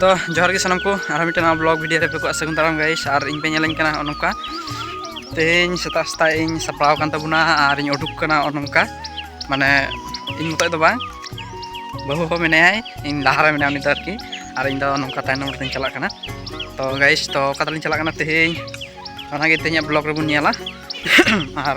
ᱛᱚ ᱡᱚᱦᱟᱨ ᱜᱮ ᱥᱟᱱᱟᱢ ᱠᱚ ᱟᱨᱦᱚᱸ ᱢᱤᱫᱴᱮᱱ ᱱᱟᱣᱟ ᱵᱞᱚᱜ ᱵᱷᱤᱰᱤᱭᱳ ᱨᱮ ᱯᱮ ᱠᱚᱜᱼᱟ ᱥᱟᱹᱜᱩᱱ ᱫᱟᱨᱟᱢ ᱜᱟᱭᱤᱥ ᱟᱨ ᱤᱧ ᱯᱮ ᱧᱮᱞᱟᱹᱧ ᱠᱟᱱᱟ ᱱᱚᱜᱼᱚ ᱱᱚᱝᱠᱟ ᱛᱮᱦᱮᱧ ᱥᱮᱛᱟᱜ ᱥᱮᱛᱟᱜ ᱤᱧ ᱥᱟᱯᱲᱟᱣ ᱠᱟᱱ ᱛᱟᱵᱚᱱᱟ ᱟᱨ ᱤᱧ ᱩᱰᱩᱠ ᱠᱟᱱᱟ ᱱᱚᱜᱼᱚ ᱱᱚᱝᱠᱟ ᱢᱟᱱᱮ ᱤᱧ ᱢᱚᱛᱚᱡ ᱫᱚ ᱵᱟᱝ ᱵᱟᱹᱦᱩ ᱦᱚᱸ ᱢᱮᱱᱟᱭᱟᱭ ᱤᱧ ᱞᱟᱦᱟᱨᱮ ᱢᱮᱱᱟᱭᱟ ᱩᱱᱤ ᱫᱚ ᱟᱨᱠᱤ ᱟᱨ ᱤᱧ ᱫᱚ ᱱᱚᱝᱠᱟ ᱛᱟᱭᱱᱚᱢ ᱨᱮᱧ ᱪᱟᱞᱟᱜ ᱠᱟᱱᱟ ᱛᱚ ᱜᱟᱭᱤᱥ ᱛᱚ ᱚᱠᱟ ᱛᱮᱞᱤᱧ ᱪᱟᱞᱟᱜ ᱠᱟᱱᱟ ᱛᱮᱦᱮᱧ ᱚᱱᱟᱜᱮ ᱛᱮᱦᱮᱧᱟᱜ ᱵᱞᱚᱜ ᱨᱮᱵᱚᱱ ᱧᱮᱞᱟ ᱟᱨ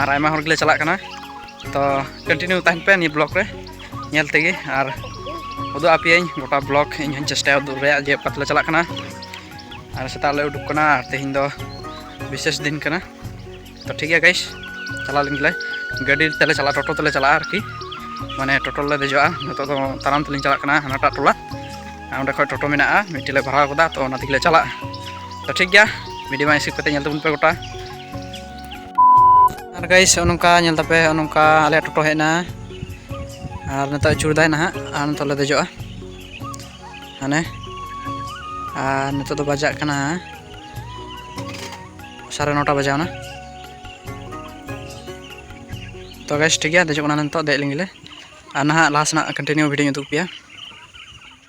ᱟᱨ ᱟᱭᱢᱟ ᱦᱚᱲ ᱜᱮᱞᱮ ᱪᱟᱞᱟᱜ ᱠᱟᱱᱟ ᱛᱚ ᱠᱚᱱᱴᱤᱱᱤᱭᱩ ᱛᱟᱦᱮᱱ ᱯᱮ ᱱᱤᱭᱟᱹ ᱵᱞᱚᱜ ᱨᱮ ᱧᱮᱞ ᱛᱮᱜᱮ ᱟᱨ ᱩᱫᱩᱜ ᱟᱯᱮᱭᱟᱹᱧ ᱜᱚᱴᱟ ᱵᱞᱚᱜ ᱤᱧ ᱦᱚᱸᱧ ᱪᱮᱥᱴᱟᱭᱟ ᱩᱫᱩᱜ ᱨᱮᱭᱟᱜ ᱡᱮ ᱚᱠᱟ ᱛᱮᱞᱮ ᱪᱟᱞᱟᱜ ᱠᱟᱱᱟ ᱟᱨ ᱥᱮᱛᱟᱜ ᱞᱮ ᱩᱰᱩᱠ ᱠᱟᱱᱟ ᱟᱨ ᱛᱮᱦᱮᱧ ᱫᱚ ᱵᱤᱥᱮᱥ ᱫᱤᱱ ᱠᱟᱱᱟ ᱛᱚ ᱴᱷᱤᱠ ᱜᱮᱭᱟ ᱜᱟᱭᱤᱥ ᱪᱟᱞᱟᱣ ᱞᱮᱱ ᱜᱮᱞᱮ ᱜᱟᱹᱰᱤ ᱛᱮᱞᱮ ᱪᱟᱞᱟᱜᱼᱟ ᱴᱳᱴᱳ ᱛᱮᱞᱮ ᱪᱟᱞᱟᱜᱼᱟ ᱟᱨᱠᱤ ᱢᱟᱱᱮ ᱴᱳᱴᱳ ᱞᱮ ᱫᱮᱡᱚᱜᱼᱟ ᱱᱤᱛᱚᱜ ᱫᱚ ᱛᱟᱲᱟᱢ ᱛᱮᱞᱤᱧ ᱪᱟᱞᱟᱜ ᱠᱟᱱᱟ ᱦᱟᱱᱟᱴᱟᱜ ᱴᱚᱞᱟ ᱚᱸᱰᱮ ᱠᱷᱚᱡ ᱴᱳᱴᱳ ᱢᱮᱱᱟᱜᱼᱟ ᱢᱤᱫᱴᱮᱡ ᱞᱮ ᱵᱷᱟᱲᱟ ᱟᱠᱟᱫᱟ ᱛᱚ ᱚᱱᱟ ᱛᱮᱜᱮᱞᱮ ᱪᱟᱞᱟᱜᱼᱟ ᱛᱚ ᱴᱷᱤᱠ ᱜᱮᱭᱟ ᱵᱷᱤᱰᱤᱭᱳ ᱢᱟ ᱦᱤᱥᱟᱹᱵ ᱠᱟᱛᱮ ᱧᱮᱞ ᱛᱟᱵᱚᱱ ᱯᱮ ᱜᱚᱴᱟ ᱟᱨ ᱜᱟᱭᱤᱥ ᱚᱱᱠᱟ ᱧᱮᱞ ᱛᱟᱯᱮ ᱚᱱᱠᱟ ᱟᱞᱮ ᱴᱳᱴᱳ ᱦᱮᱡ ᱮᱱᱟ ᱟᱨ ᱱᱤᱛᱚᱜ ᱟᱹᱪᱩᱨᱫᱟᱭ ᱱᱟᱦᱟᱜ ᱟᱨ ᱱᱤᱛᱚᱜ ᱞᱮ ᱫᱮᱡᱚᱜᱼᱟ ᱦᱟᱱᱮ ᱟᱨ ᱱᱤᱛᱚᱜ ᱫᱚ ᱵᱟᱡᱟᱜ ᱠᱟᱱᱟ ᱥᱟᱲᱮ ᱱᱚᱴᱟ ᱵᱟᱡᱟᱣᱱᱟ ᱛᱚ ᱜᱟᱭᱤᱥ ᱴᱷᱤᱠ ᱜᱮᱭᱟ ᱫᱮᱡᱚᱜ ᱠᱟᱱᱟ ᱱᱤᱛᱚᱜ ᱫᱮᱡ ᱞᱮᱱᱜᱮᱞᱮ ᱟᱨ ᱱᱟᱦᱟᱜ ᱞᱟᱦᱟ ᱥᱮᱱᱟᱜ ᱠᱚᱱᱴᱤᱱᱤᱭᱩ ᱵᱷᱤᱰᱤᱭᱳᱧ ᱩᱫᱩᱜ ᱯᱮᱭᱟ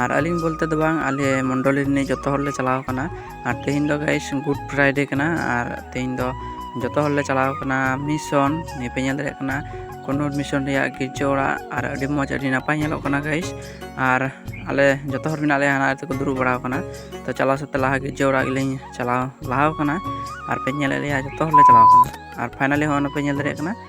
ᱟᱨ ᱟᱹᱞᱤᱧ ᱵᱚᱞᱛᱮ ᱫᱚ ᱵᱟᱝ ᱟᱞᱮ ᱢᱚᱱᱰᱚᱞᱤ ᱨᱤᱱᱤᱡ ᱡᱚᱛᱚ ᱦᱚᱲᱞᱮ ᱪᱟᱞᱟᱣ ᱟᱠᱟᱱᱟ ᱟᱨ ᱛᱮᱦᱮᱧ ᱫᱚ ᱜᱟᱭᱤᱥ ᱜᱩᱰ ᱯᱷᱨᱟᱭᱰᱮ ᱠᱟᱱᱟ ᱟᱨ ᱛᱮᱦᱮᱧ ᱫᱚ ᱡᱚᱛᱚ ᱦᱚᱲᱞᱮ ᱪᱟᱞᱟᱣ ᱟᱠᱟᱱᱟ ᱢᱤᱥᱚᱱ ᱱᱤᱭᱟᱹ ᱯᱮ ᱧᱮᱞ ᱫᱟᱲᱮᱭᱟᱜ ᱠᱟᱱᱟ ᱠᱚᱱᱱᱩᱨ ᱢᱤᱥᱚᱱ ᱨᱮᱭᱟᱜ ᱜᱤᱨᱡᱟᱹ ᱚᱲᱟᱜ ᱟᱨ ᱟᱹᱰᱤ ᱢᱚᱡᱽ ᱟᱹᱰᱤ ᱱᱟᱯᱟᱭ ᱧᱮᱞᱚᱜ ᱠᱟᱱᱟ ᱜᱟᱭᱤᱥ ᱟᱨ ᱟᱞᱮ ᱡᱚᱛᱚ ᱦᱚᱲ ᱢᱮᱱᱟᱜ ᱞᱮᱭᱟ ᱦᱟᱱᱟ ᱨᱮᱠᱚ ᱫᱩᱲᱩᱵ ᱵᱟᱲᱟᱣ ᱟᱠᱟᱱᱟ ᱛᱚ ᱪᱟᱞᱟᱣ ᱥᱟᱶᱛᱮ ᱞᱟᱦᱟ ᱜᱤᱨᱡᱟᱹ ᱚᱲᱟᱜ ᱜᱮᱞᱤᱧ ᱪᱟᱞᱟᱣ ᱞᱟᱦᱟᱣ ᱟᱠᱟᱱᱟ ᱟᱨ ᱯᱮ ᱧᱮᱞᱮᱫ ᱞᱮᱭᱟ ᱡᱚᱛᱚ ᱦᱚᱲᱞᱮ ᱪᱟᱞᱟᱣ ᱟᱠᱟᱱᱟ ᱟᱨ ᱯᱷᱟᱭᱱᱟᱞᱤ ᱦᱚᱸᱜᱼᱚᱭ ᱯᱮ ᱧᱮᱞ ᱫᱟᱲᱮᱭᱟᱜ ᱠᱟᱱᱟ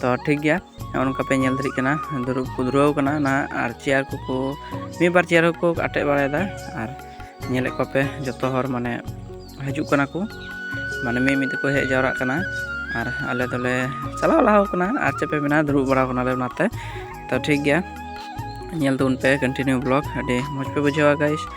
ᱛᱚ ᱴᱷᱤᱠ ᱜᱮᱭᱟ ᱱᱚᱜᱼᱚ ᱱᱚᱝᱠᱟ ᱯᱮ ᱧᱮᱞ ᱫᱟᱲᱮᱜ ᱠᱟᱱᱟ ᱫᱩᱲᱩᱵ ᱠᱚ ᱫᱩᱨᱟᱹᱣ ᱠᱟᱱᱟ ᱱᱟᱦᱟᱜ ᱟᱨ ᱪᱮᱭᱟᱨ ᱠᱚᱠᱚ ᱢᱤᱫ ᱵᱟᱨ ᱪᱮᱭᱟᱨ ᱦᱚᱸᱠᱚ ᱟᱴᱮᱫ ᱵᱟᱲᱟᱭᱮᱫᱟ ᱟᱨ ᱧᱮᱞᱮᱫ ᱠᱚᱣᱟ ᱯᱮ ᱡᱚᱛᱚ ᱦᱚᱲ ᱢᱟᱱᱮ ᱦᱤᱡᱩᱜ ᱠᱟᱱᱟ ᱠᱚ ᱢᱟᱱᱮ ᱢᱤᱫ ᱢᱤᱫ ᱛᱮᱠᱚ ᱦᱮᱡ ᱡᱟᱣᱨᱟᱜ ᱠᱟᱱᱟ ᱟᱨ ᱟᱞᱮ ᱫᱚᱞᱮ ᱪᱟᱞᱟᱣ ᱞᱟᱦᱟᱣ ᱠᱟᱱᱟ ᱟᱨ ᱪᱮᱫ ᱯᱮ ᱢᱮᱱᱟ ᱫᱩᱲᱩᱵ ᱵᱟᱲᱟᱣ ᱠᱟᱱᱟᱞᱮ ᱚᱱᱟᱛᱮ ᱛᱚ ᱴᱷᱤᱠ ᱜᱮᱭᱟ ᱧᱮᱞ ᱛᱟᱵᱚᱱ ᱯᱮ ᱠᱚᱱᱴᱤᱱᱤᱭᱩ ᱵᱞᱚᱜ ᱟᱹᱰᱤ ᱢᱚᱡᱽ ᱯᱮ ᱵᱩᱡᱷᱟᱹᱣᱟ ᱜᱟᱭᱤᱥ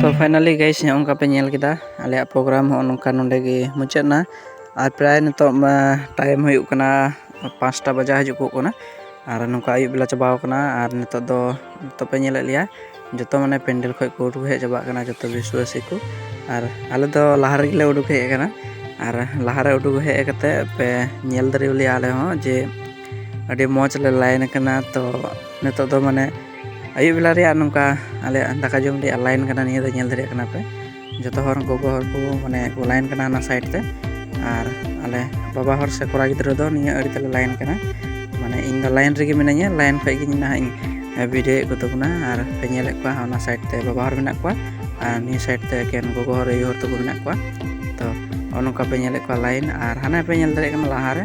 ᱛᱚ ᱯᱷᱟᱭᱱᱟᱞᱤ ᱜᱟᱭᱤᱥ ᱱᱚᱜᱼᱚ ᱱᱚᱝᱠᱟ ᱯᱮ ᱧᱮᱞ ᱠᱮᱫᱟ ᱟᱞᱮᱭᱟᱜ ᱯᱨᱳᱜᱨᱟᱢ ᱦᱚᱸ ᱱᱚᱝᱠᱟ ᱱᱚᱰᱮ ᱜᱮ ᱢᱩᱪᱟᱹᱫ ᱮᱱᱟ ᱟᱨ ᱯᱨᱟᱭ ᱱᱤᱛᱚᱜ ᱢᱟ ᱴᱟᱭᱤᱢ ᱦᱩᱭᱩᱜ ᱠᱟᱱᱟ ᱯᱟᱸᱪᱴᱟ ᱵᱟᱡᱟᱣ ᱦᱤᱡᱩᱜ ᱠᱚᱜ ᱠᱟᱱᱟ ᱟᱨ ᱱᱚᱝᱠᱟ ᱟᱹᱭᱩᱵ ᱵᱮᱞᱟ ᱪᱟᱵᱟᱣ ᱠᱟᱱᱟ ᱟᱨ ᱱᱤᱛᱚᱜ ᱫᱚ ᱱᱤᱛᱚᱜ ᱯᱮ ᱧᱮᱞᱮᱫ ᱞᱮᱭᱟ ᱡᱚᱛᱚ ᱢᱟᱱᱮ ᱯᱮᱱᱰᱮᱞ ᱠᱷᱚᱡ ᱠᱚ ᱩᱰᱩᱠ ᱦᱮᱡ ᱪᱟᱵᱟᱜ ᱠᱟᱱᱟ ᱡᱚᱛᱚ ᱵᱤᱥᱣᱟᱥᱤ ᱠᱚ ᱟᱨ ᱟᱞᱮ ᱫᱚ ᱞᱟᱦᱟ ᱨᱮᱜᱮ ᱞᱮ ᱩᱰᱩᱠ ᱦᱮᱡ ᱟᱠᱟᱱᱟ ᱟᱨ ᱞᱟᱦᱟᱨᱮ ᱩᱰᱩᱠ ᱦᱮᱡ ᱠᱟᱛᱮ ᱯᱮ ᱧᱮᱞ ᱫᱟᱲᱮᱣᱟᱞᱮᱭᱟ ᱟᱞᱮ ᱦᱚᱸ ᱡᱮ ᱟᱹᱰᱤ ᱢᱚᱡᱽ ᱞᱮ ᱞᱟᱭᱤᱱ ᱟᱠᱟᱱᱟ ᱛᱚ ᱱᱤᱛᱚᱜ ᱫᱚ ᱢᱟᱱᱮ ᱟᱹᱭᱩᱵ ᱵᱮᱞᱟ ᱨᱮᱭᱟᱜ ᱱᱚᱝᱠᱟ ᱟᱞᱮᱭᱟᱜ ᱫᱟᱠᱟ ᱡᱚᱢ ᱨᱮᱭᱟᱜ ᱞᱟᱭᱤᱱ ᱠᱟᱱᱟ ᱱᱤᱭᱟᱹ ᱫᱚ ᱧᱮᱞ ᱫᱟᱲᱮᱭᱟᱜ ᱠᱟᱱᱟ ᱯᱮ ᱡᱚᱛᱚ ᱦᱚᱲ ᱜᱚᱜᱚ ᱦᱚᱲ ᱠᱚ ᱢᱟᱱᱮ ᱠᱚ ᱞᱟᱭᱤᱱ ᱠᱟᱱᱟ ᱚᱱᱟ ᱥᱟᱭᱤᱰ ᱛᱮ ᱟᱨ ᱟᱞᱮ ᱵᱟᱵᱟ ᱦᱚᱲ ᱥᱮ ᱠᱚᱲᱟ ᱜᱤᱫᱽᱨᱟᱹ ᱫᱚ ᱱᱤᱭᱟᱹ ᱟᱹᱲᱤ ᱛᱮᱞᱮ ᱞᱟᱭᱤᱱ ᱠᱟᱱᱟ ᱢᱟᱱᱮ ᱤᱧ ᱫᱚ ᱞᱟᱭᱤᱱ ᱨᱮᱜᱮ ᱢᱤᱱᱟᱹᱧᱟ ᱞᱟᱭᱤᱱ ᱠᱷᱚᱡ ᱜᱮ ᱱᱟᱦᱟᱜ ᱤᱧ ᱵᱷᱤᱰᱤᱭᱳᱭᱮᱫ ᱠᱚ ᱛᱟᱵᱚᱱᱟ ᱟᱨ ᱯᱮ ᱧᱮᱞᱮᱫ ᱠᱚᱣᱟ ᱚᱱᱟ ᱥᱟᱭᱤᱰ ᱛᱮ ᱵᱟᱵᱟ ᱦᱚᱲ ᱢᱮᱱᱟᱜ ᱠᱚᱣᱟ ᱟᱨ ᱱᱤᱭᱟᱹ ᱥᱟᱭᱤᱰ ᱛᱮ ᱮᱠᱮᱱ ᱜᱚᱜᱚ ᱦᱚᱲ ᱟᱭᱳ ᱦᱚᱲ ᱛᱟᱠᱚ ᱢᱮᱱᱟᱜ ᱠᱚᱣᱟ ᱛᱚ ᱱᱚᱜᱼᱚ ᱱᱚᱝᱠᱟ ᱯᱮ ᱧᱮᱞᱮᱫ ᱠᱚᱣᱟ ᱞᱟᱭᱤᱱ ᱟᱨ ᱦᱟᱱᱮ ᱯᱮ ᱧᱮᱞ ᱫᱟᱲᱮᱭᱟᱜ ᱠᱟᱱᱟ ᱞᱟᱦᱟᱨᱮ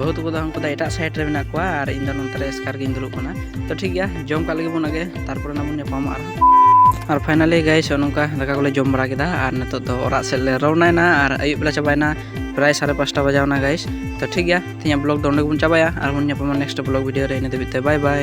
ᱵᱟᱹᱦᱩ ᱛᱟᱠᱚ ᱫᱚ ᱩᱱᱠᱩ ᱫᱚ ᱮᱴᱟᱜ ᱥᱟᱭᱤᱰ ᱨᱮ ᱢᱮᱱᱟᱜ ᱠᱚᱣᱟ ᱟᱨ ᱤᱧ ᱫᱚ ᱱᱚᱱᱛᱮ ᱨᱮ ᱮᱥᱠᱟᱨ ᱜᱤᱧ ᱫᱩᱲᱩᱵ ᱠᱟᱱᱟ ᱛᱚ ᱴᱷᱤᱠ ᱜᱮᱭᱟ ᱡᱚᱢ ᱠᱟᱜ ᱞᱟᱹᱜᱤᱫ ᱵᱚᱱ ᱟᱜᱮ ᱛᱟᱨᱯᱚᱨᱮ ᱱᱟᱜ ᱵᱚᱱ ᱧᱟᱯᱟᱢᱚᱜᱼᱟ ᱟᱨ ᱯᱷᱟᱭᱱᱟᱞᱤ ᱜᱟᱭᱤᱥ ᱱᱚᱝᱠᱟ ᱫᱟᱠᱟ ᱠᱚᱞᱮ ᱡᱚᱢ ᱵᱟᱲᱟ ᱠᱮᱫᱟ ᱟᱨ ᱱᱤᱛᱚᱜ ᱫᱚ ᱚᱲᱟᱜ ᱥᱮᱫ ᱞᱮ ᱨᱚᱣᱱᱟᱭᱮᱱᱟ ᱟᱨ ᱟᱹᱭᱩᱵ ᱵᱮᱞᱟ ᱪᱟᱵᱟᱭᱮᱱᱟ ᱯᱨᱟᱭ ᱥᱟᱲᱮ ᱯᱟᱸᱪᱴᱟ ᱵᱟᱡᱟᱣᱱᱟ ᱜᱟᱭᱤᱥ ᱛᱚ ᱴᱷᱤᱠ ᱜᱮᱭᱟ ᱛᱮᱦᱮᱧᱟᱜ ᱵᱞᱚᱜ ᱫᱚ ᱚᱸᱰᱮ ᱜᱮᱵᱚᱱ ᱪᱟᱵᱟᱭᱟ ᱟᱨᱵᱚᱱ ᱧᱟᱯᱟᱢᱟ ᱱᱮᱠᱥᱴ ᱵᱞᱚᱜ ᱵᱷᱤᱰᱤᱭᱳ ᱨᱮ ᱤᱱᱟᱹ ᱫᱷᱟᱹᱵᱤᱡ ᱛᱮ ᱵᱟᱭ ᱵᱟᱭ